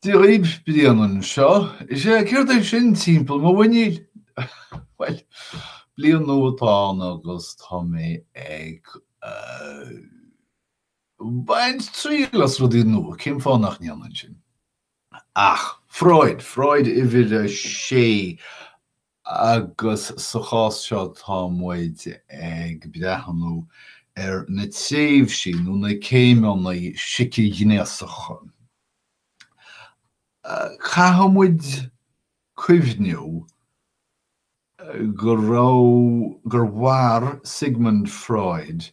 Daoibh bliain anseo, is ea, céard é sin timpeall mo mhuiníl? Bhuel, bliain nua atá ann agus tá mé ag baint triail as rudaí nua, cén fáth nach ndéanfainn sin? Ach, Freud, Freud uimhir a sé, agus sa chás seo tá muid ag breathnú ar na tréimhsí nó na céimeanna siceghnéasacha. Caithfidh muid cuimhniú go raibh, gur mhair Sigmund Freud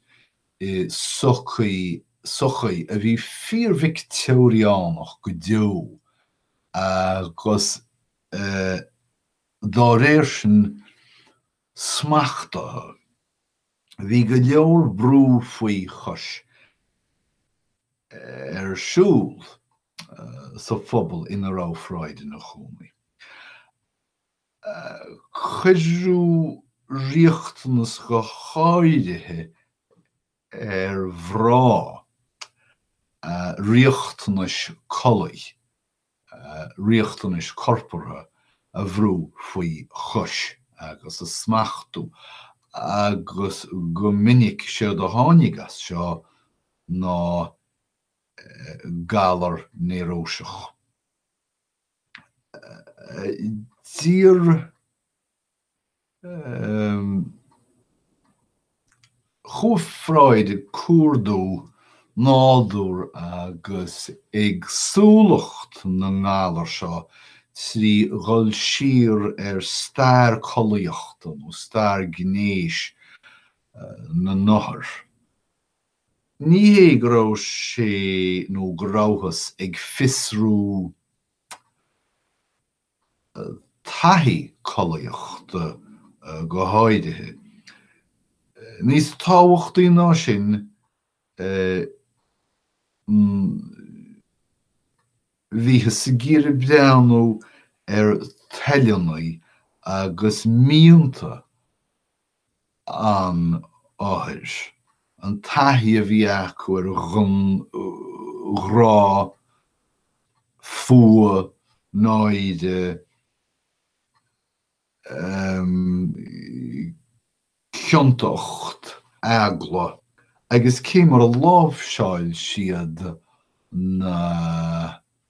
i sochaí, sochaí a bhí fíor-Victeoiriach go deo agus a. dá réir sin, smachtaithe. Bhí go leor brú faoi chois ar siúl sa phobal ina raibh Freud ina chónaí. Cuireadh riachtanais go háirithe ar mhná, riachtanais collaí. riachtanais chorpartha a bhrú faoi chois agus a smachtú, agus go minic séard a tháinig as seo ná galar néaróiseach. Dá réir. Chuaigh Freud ag cuardú nádúr agus éagsúlacht na ngalar seo trí dhul siar ar stair collaíochta nó stair gnéis na n-othar. Ní hé go raibh sé nó go rabhthas ag fiosrú taithí collaíochta go háirithe. Níos tábhachtaí ná sin, bhíothas ag iarraidh breathnú ar thoileanna agus mianta an othair, an taithí a bhí acu ar ghrá, fuath, náire, ciontacht, eagla agus cé mar a láimhseáil siad na.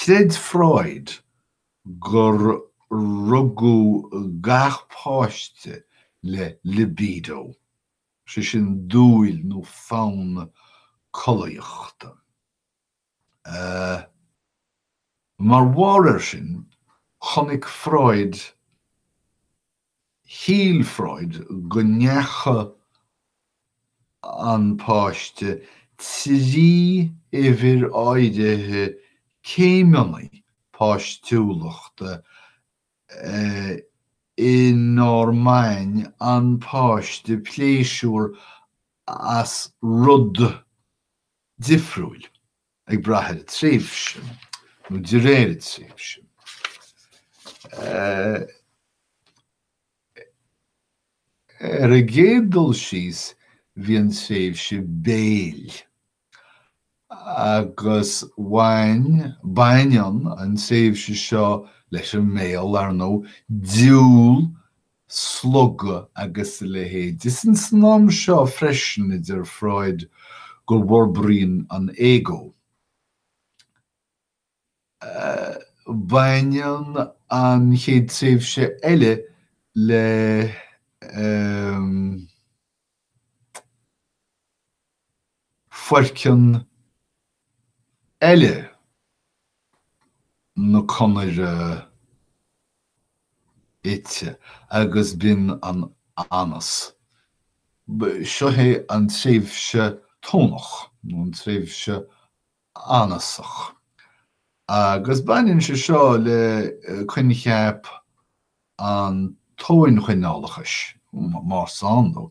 Chreid Freud gur rugadh gach páiste le libido, sé sin dúil nó fonn collaíochta. Mar bharr air sin, chonaic Freud shíl Freud go ndeachaigh an páiste trí uimhir áirithe céimeanna páistiúlachta inar bhain an páiste pléisiúr as rud difriúil. ag brath ar an tréimhse nó de réir an tréimhse. Ar an gcéad dul síos bhí an tréimhse béil agus bhain, baineann, an tréimhse seo leis an mbéal, ar ndóigh, diúl 'slogadh' agus a leithéid. Is ins an am seo freisin a deir Freud go bhforbraíonn an ego. Baineann an chéad tréimhse eile le. foirceann eile na conaire ite agus b'in an anas. Seo é an tréimhse Tónach nó an tréimhse anasach agus baineann sé seo le coincheap an tóinchoinneálachais, más ann dó.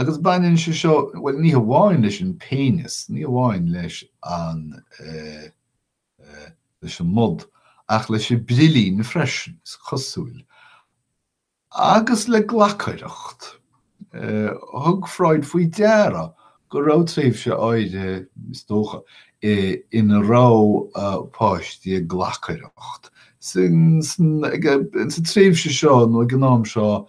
Agus baineann sé seo, bhuel, ní hamháin leis an péineas, ní hamháin leis an leis an mbod, ach leis an brillín freisin, is cosúil, agus le glacaireacht. Thug Freud faoi deara go raibh tréimhse áirithe, is dócha, ina raibh páistí ag glacaireacht. Sa tréimhse seo, nó ag an am seo,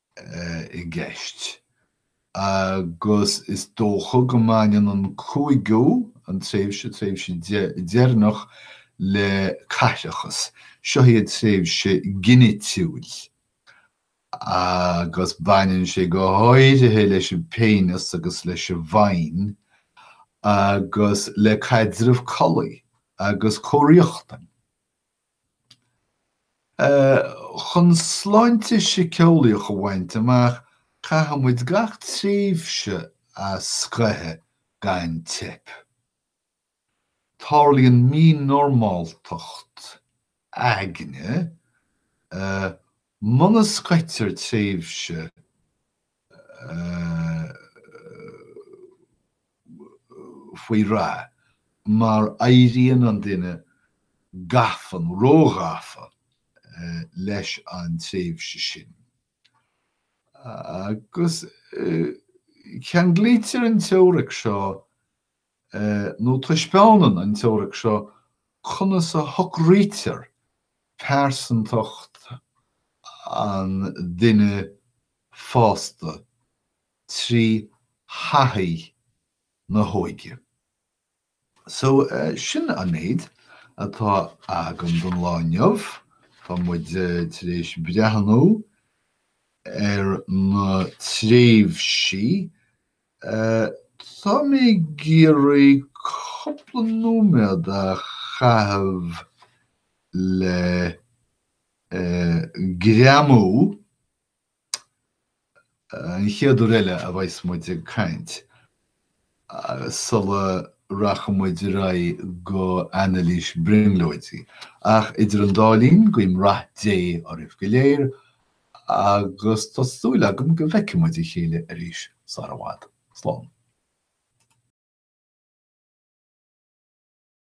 i gceist, agus is dócha go mbaineann an cúigiú, an tréimhse, tréimhse, deireanach le caithreachas. Seo í an tréimhse ghinitiúil, agus baineann sé go háirithe leis an bpéineas agus leis an bhfaighin, agus le caidreamh collaí agus comhriachtain. Chun sláinte síceolaíoch a bhaint amach caithfimid gach tréimhse a scoitheadh gan teip. Tarlaíonn mínormáltacht aigne muna scoitear tréimhse faoi rath, mar éiríonn an duine gafa nó róghafa leis an tréimhse sin, agus ceanglaítear an teoiric seo nó taispeánann an teoiric seo conas a shocraítear pearsantacht an duine fásta trí thaithí na hóige. So, sin an méid atá agam don lá inniu. Tá muid tar éis breathnú ar na tréimhsí. Tá mé ag iarraidh cúpla nóiméad a chaitheamh le greamú an chéad uair eile a bheas muid ag caint, sula rachaidh muid ar aghaidh go anailís brionglóidí. Ach idir an dá linn, guím rath Dé oraibh go léir agus tá súil agam go bhfeicfidh muid a chéile arís sara bhfad. Slán.